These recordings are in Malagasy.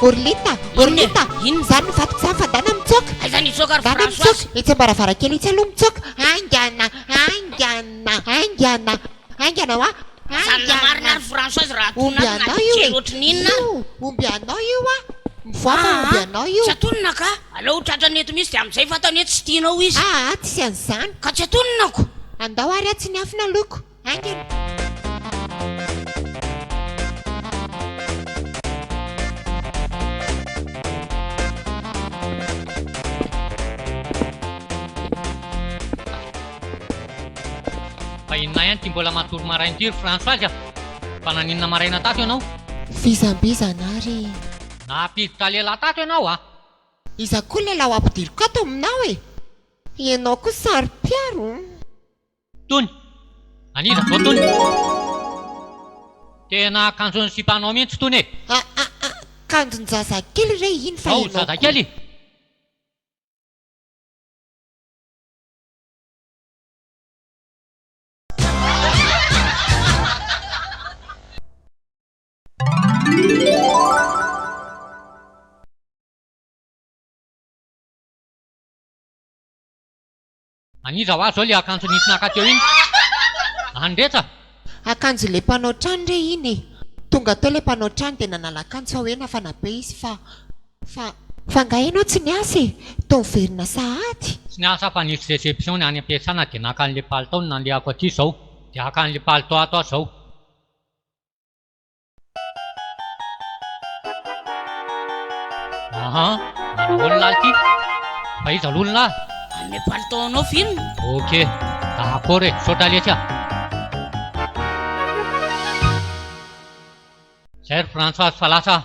Borlita, Borlita, inona zany vato tsy afadana mitsoka? Aiza ny mitsoka ry François? Mitsoka, itsy am-baravarankely itsy aloha mitsoka. Haingana, haingana, haingana, haingana wa. Zany la marina ary Françoise raha atolona azy na dia kely ohatry ny inona ary. Io omby anao io a! Mivoaka io omby anao io. Tsy atonina ka! Aleo ho tratrany eto mihitsy dia amin'izay fantany hoe tsy tianao izy. Aa tsy an'izany. Ka tsy atononako! Andao ary atsy ny afo naloako. Haingana. Fa inona ihany ity mbola matory maraina ity ry Françoise a! Fa naninona maraina tato ianao? Vizambizana ary e! Nampiditra lehilahy tato ianao a! Iza koa lehilahy ho ampidiriko ato aminao e! Ianao koa saro-piaro o! Tony! An'iza izao Tony? Tena kanjon'ny sipanao mihitsy Tony e! Aa kanjon-jazakely re iny fa ianao koa! Zazakely? An'iza hoa zao le akanjo nisy naka teo iny? An'i Recha? Akanjo le mpanao trano re iny e! Tonga teo le mpanao trano dia nanala akanjo fa hoe nafana be izy fa fa. Fa nga enao tsy niasa e! Toa miverina sahady. Tsy niasa aho fa nisy reception ny any am-piasana dia naka an'le palitao no nandehako aty izao dia haka an'le palitao ato aho izao. Aha, manahoana lahy ity? Fa iza aloha ny lahy? Hanome palitao anao film. Ok, d'accord e, misaotra lesy a! Izay ry Françoise fa lasa aho.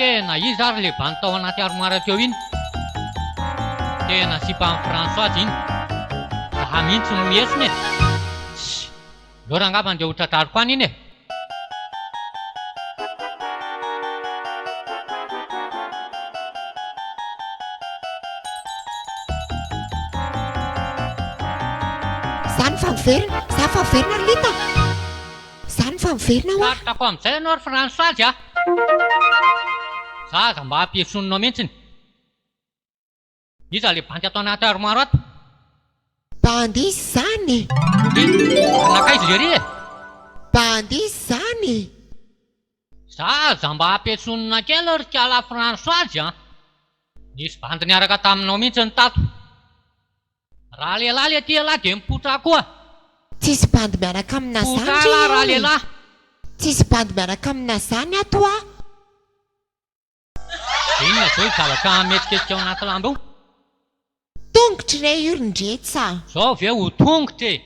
Tena iza ary le bandy tao anaty armoire teo iny? Tena sipan'i Françoise iny. Zaha mihintsy no miesona e! Tssy! Ndao rangaha fa ndeha ho tratrariko any iny e! Za ny fa miverina, za fa miverina ry Lita a! Za ny fa miverina hoa! Sarotrako amin'izay ianao ry Fransazy a! Za aza mba ampiesonina mihitsiny! Iza ilay bandy ato anaty armoire ato? Bandy iza izany e? Dia, ary nankaiza i Jerry e? Bandy iza izany e? Za aza mba ampiantsonina kely ry kala Françoise a! Nisy bandy niaraka taminao mihitsy ny tato. Raha lehilahy le ty elah de mipotraha koa. Tsisy bandy miaraka amina zany ry Potraha lah raha ry lehilahy. Tsisy bandy miaraka amina zany ato a! Inona izao io zavatra mihetsiketsika ao anaty lamba io? Tongotry re io ry ndrets a! Zao ve ho tongotra e!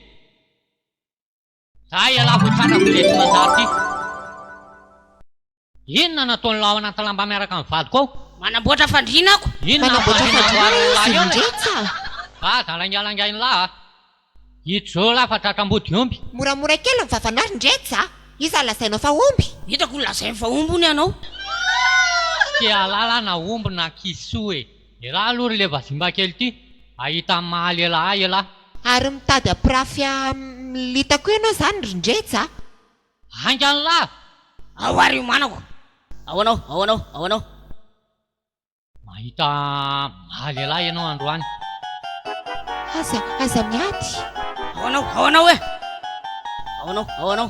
Za ialahy vao tratra avy ireto manjary ty. Inona no ataon'ilay ao anaty lamba miaraka amin'ny vadiko ao? Manamboatra fandriana ako. Inona no fandriana amboarin'ilay eo lay? Za za laingalangain'ilay a! Ijoo lahy fa tratra ambody omby. Moramora kely ny vavanao ry ndrets a! Iza no lazainao fa omby? Hitako ho lazainy fa omby hono ianao. Tsy te hahalala aho na omby na kisoa e! Elah aloha ry le vazimba kely ty ahita ny maha lelah ahy elah. Ary mitady hampirafy am-lita koa ianao izany ry Ndrejy a! Haingana lah! Ao ary io manako! Ao anao, ao anao, ao anao! Mahita maha lelah ianao androany. Aza, aza miady! Ao anao, ao anao e! Ao anao, ao anao!